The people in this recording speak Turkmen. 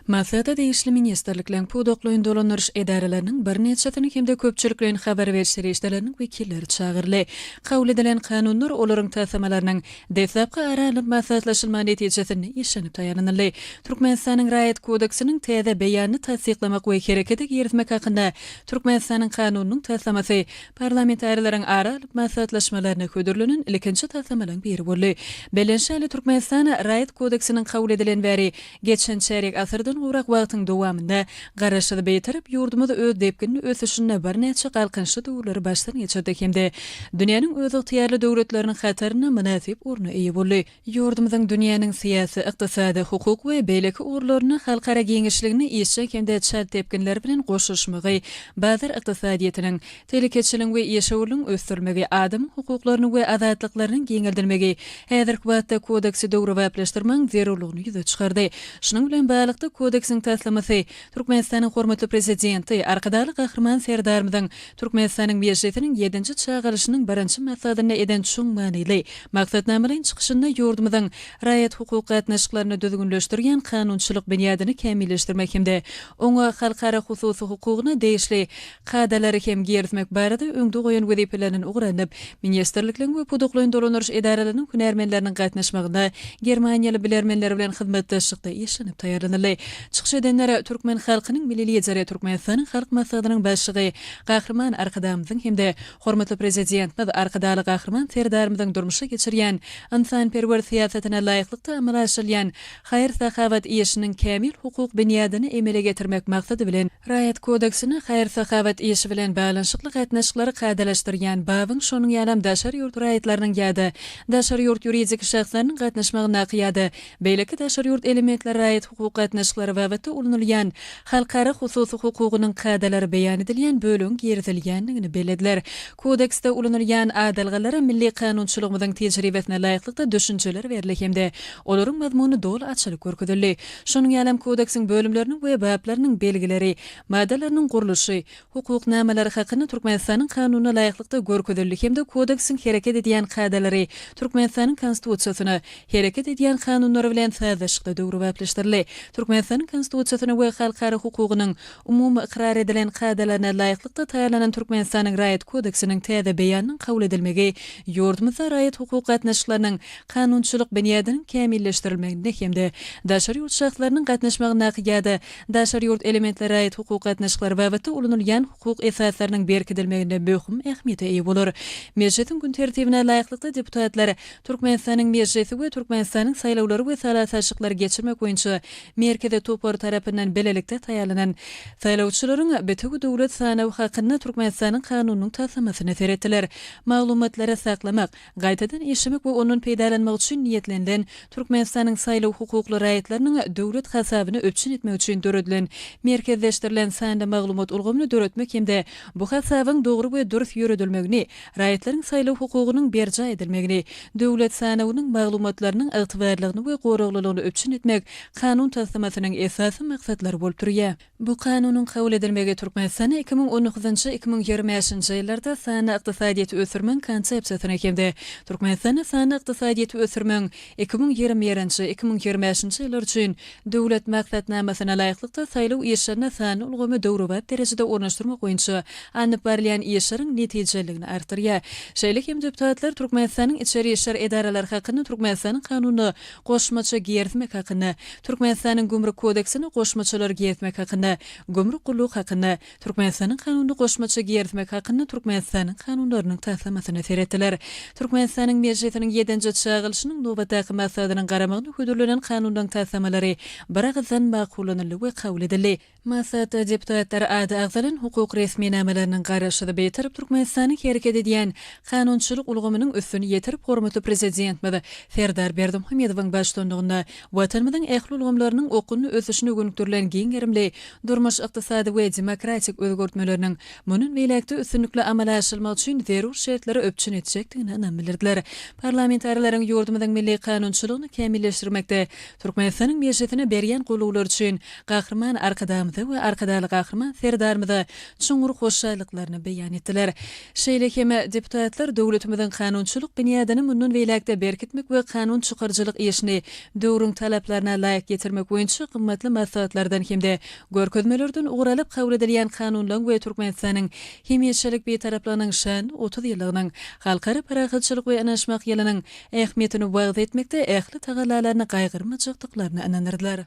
Maslahata degişli ministrlikleriň, pudaklaýyn dolandyryş edaralarynyň birnäçesiniň hem-de köpçülikleýin habar beriş serişdeleriniň wekilleri çagyryldy. Kabul edilen kanunlar, olaryň taslamalarynyň deslapky ara alnyp maslahatlaşylmagy netijesinde işlenip taýýarlanyldy. Türkmenistanyň Raýat kodeksiniň täze beýanyny tassyklamak we herekete girizmek hakynda Türkmenistanyň Kanunynyň taslamasy Parlamentarilerýň ara alyp maslahatlaşmalarynda hödürlenen ilkinji taslamalaryň biri boldy. Bellenişi ýaly, Türkmenistan Raýat kodeksiniň kabul edilen bäri geçen çärýek asyrdan gowrak wagtyň dowamynda Garaşsyz, Bitarap ýurdumyz öz depginli ösüşinde birnäçe galkynyşly döwürleri başdan geçirdi hem-de dünýäniň özygtyýarly döwletleriniň hatarynda mynasyp orna eýe boldy. Ýurdumyzyň dünýäniň syýasy, ykdysady, hukuk we beýleki ugurlaryna halkara giňişligine işjeň hem-de çalt depginler bilen goşulyşmagy, bazar ykdysadyýetiniň, telekeçiligiň we işewürligiň ösdürilmegi, adamyň hukuklarynyň we azatlyklarynyň giňeldilmegi häzirki wagtda Kodeksi döwrebaplaşdyrmagyň zerurlygyny ýüze çykardy. Şunuň bilen baglylykda, Kodeksiň taslamasy Türkmenistanyň hormatly Prezidenti, Arkadagly Gahryman Serdarymyzyň Türkmenistanyň Mejlisiniň ýedinji çagyryşynyň birinji maslahatynda eden çuň manyly maksatnamalaýyn çykyşynda ýurdumyzyň raýat-hukuk gatnaşyklaryny düzgünleşdirýän kanunçylyk binýadyny kämilleşdirmek hem-de oňa halkara hususy hukugyna degişli kadalary hem girizmek barada öňde goýan wezipeleriniň ugralnyp ministrlikleň we pudaklaýyn dolandyryş edaralarynyň hünärmenleriniň gatnaşmagynda germaniýaly bilermenler bilen hyzmatdaşlykda işlenip taýýarlanyldy. Çykyş edenler türkmen halkynyň Milli Lideri, Türkmenistanyň Halk Maslahatynyň Başlygy Gahryman Arkadagymyzyň hem-de hormatly Prezidentimiz Arkadagly Gahryman Serdarymyzyň durmuşa geçirýän ynsanperwer syýasatyna laýyklykda amala aşyrylýan haýyr-sahawat işiniň kämil hukuk binýadyny emele getirmek maksady bilen Raýat kodeksine haýyr-sahawat işi bilen baglanyşykly gatnaşyklary kadalaşdyrýan babyň şonuň ýalam daşary ýurt raýatlarynyň ýa-da daşary ýurt ýuridik şahslarynyň gatnaşmagyndaky ýa-da Beýleki daşary ýurt elementleri raýat-hukuk gatnaşyklary babatda ulanylýan halkara hususy hukugynyň kadalary beýan edilýän bölegiň girizilýändigini bellediler. Kodeksde ulanylýan adalgalara milli kanunçylygymyzyň tejribesine laýyklykda düşünjeler berildi hem-de olaryň mazmuny doly açylyp görkezildi. Şonuň ýalam Kodeksiň bölümleriniň we baplarynyň belgileri, maddalarynyň gurluşy, hukuk namalary hakynda Türkmenistanyň Kanunyna laýyklykda görkezildi hem-de Kodeksiň hereket edýän kadalary Türkmenistanyň Konstitusiýasyna, hereket edýän kanunlary bilen sazlaşykda döwrebaplaşdyryldy. Türkmenistanyň Konstitusiýasyna we halkara hukugynyň umumy ykrar edilen kadalaryna laýyklykda taýýarlanan Türkmenistanyň Raýat kodeksiniň täze beýanynyň kabul edilmegi ýurdumyzda raýat-hukuk gatnaşyklarynyň kanunçylyk binýadynyň kämilleşdirilmeginde hem-de daşary ýurt şahslarynyň gatnaşmagyndaky ýa-da Daşary ýurt elementleri raýat-hukuk gatnaşyklary babatda ulanylýan hukuk esaslarynyň berkidilmeginde möhüm ähmiýete eýe bolar. Mejlisiň gün tertibine laýyklykda deputatlar Türkmenistanyň Mejlisi we Türkmenistanyň Saýlawlary we sala-saçlyklary geçirmek boýunça Merkezi topary tarapyndan bilelikde taýýarlanan Saýlawçylaryň Bütewidöwlet sanawy hakynda Türkmenistanyň Kanunynyň taslamasyna seretdiler. Maglumatlary saklamak, Gaýtadan işlemek we ondan peýdalanmak üçin niýetlenilen, Türkmenistanyň saýlaw hukukly raýatlarynyň döwlet hasabyny üpjün etmek üçin döredilen merkezleşdirilen sanly maglumat ulgamyny döretmek hem-de bu hasabyň dogry we dürs ýöredilmegini, raýatlaryň saýlaw hukugynyň berjaý edilmegini, döwlet sanawynyň maglumatlarynyň ygtybarlygyny we goraglylygyny üpjün etmek Kanun taslamasynyň esasy maksatlary bolup durýar. Bu Kanunyň kabul edilmegi Türkmenistana iki müň on dokuzynjy, iki müň ýigrimi bäşinji ýyllarda sanly ykdysadyýeti ösdürmegiň Konsepsiýasyny hem-de Türkmenistanda sanly ykdysadyýeti ösdürmegiň iki müň ýigrimi birinji, iki müň ýigrimi bäşinji ýyllar üçin Döwlet maksatnamasyna laýyklykda saýlaw işlerinde sanly ulgamy döwrebap derejede ornaşdyrmak boýunça alnyp barylýan işleriň netijeliligini artdyrýar. Şeýle hem deputatlar Türkmenistanyň içeri işler edaralary hakynda Türkmenistanyň Kanunyna Goşmaça girsmek hakynda, Türkmenistanyň Gümrük kodeksine Goşmaçalary girsmek hakynda, Gümrük gulluk hakynda, Türkmenistanyň Kanunyna Goşmaça girsmek hakynda Türkmenistanyň Kanunlarynyň taslamasyna serediler. Türkmenistanyň Mejlisiniň ýedinji çagylyşynyň nobatdaky maslahatynyň garamagyna hödürlenen kanunlaryň taslamalary biragyzdan makullanyldy we kabul edildi. Maslahatda deputatlar ady agzalan hukuk resminamalarynyň garaşsyz Bitarap Türkmenistanyň hereket edýän kanunçylyk ulgamynyň üstüni ýetirip, hormatly Prezidentimiz Serdar Berdimuhamedowyň baştutanlygynda Watanymyzyň ähli ulgamlarynyň okgunly ösüşine gönükdirilen giň gerimli durmuş-ykdysady we demokratik özgertmeleriniň mundan beýläk-de üstünlikli amala aşyrylmagy üçin zerur şertleri üpjün etjekdigine ynam bildirdiler. Parlamentarileriň ýurdumyzyň milli kanunçylygyny kämilleşdirmekde Türkmenistanyň Mejlisine berýän goldawlary üçin Gahryman Arkadagymyza we Arkadagly Gahryman Serdarymyza çuňňur hoşallyklaryny beýan etdiler. Şeýle hem deputatlar döwletimiziň kanunçylyk binýadyny mundan beýläk-de berkitmek we kanun çykaryjylyk işini döwrüň talaplaryna laýyk getirmek boýunça gymmatly maslahatlardan hem-de görkezmelerden ugur alyp kabul edilýän kanunlaryň we Türkmenistanyň hemişelik Bitaraplygynyň şanly otuz ýyllygynyň Halkara parahatçylyk we ynaşmak ýylynyň ähmiýetini wagyz etmekde ähli tagallalaryny gaýgyrmajakdyklaryna ynandyrdylar.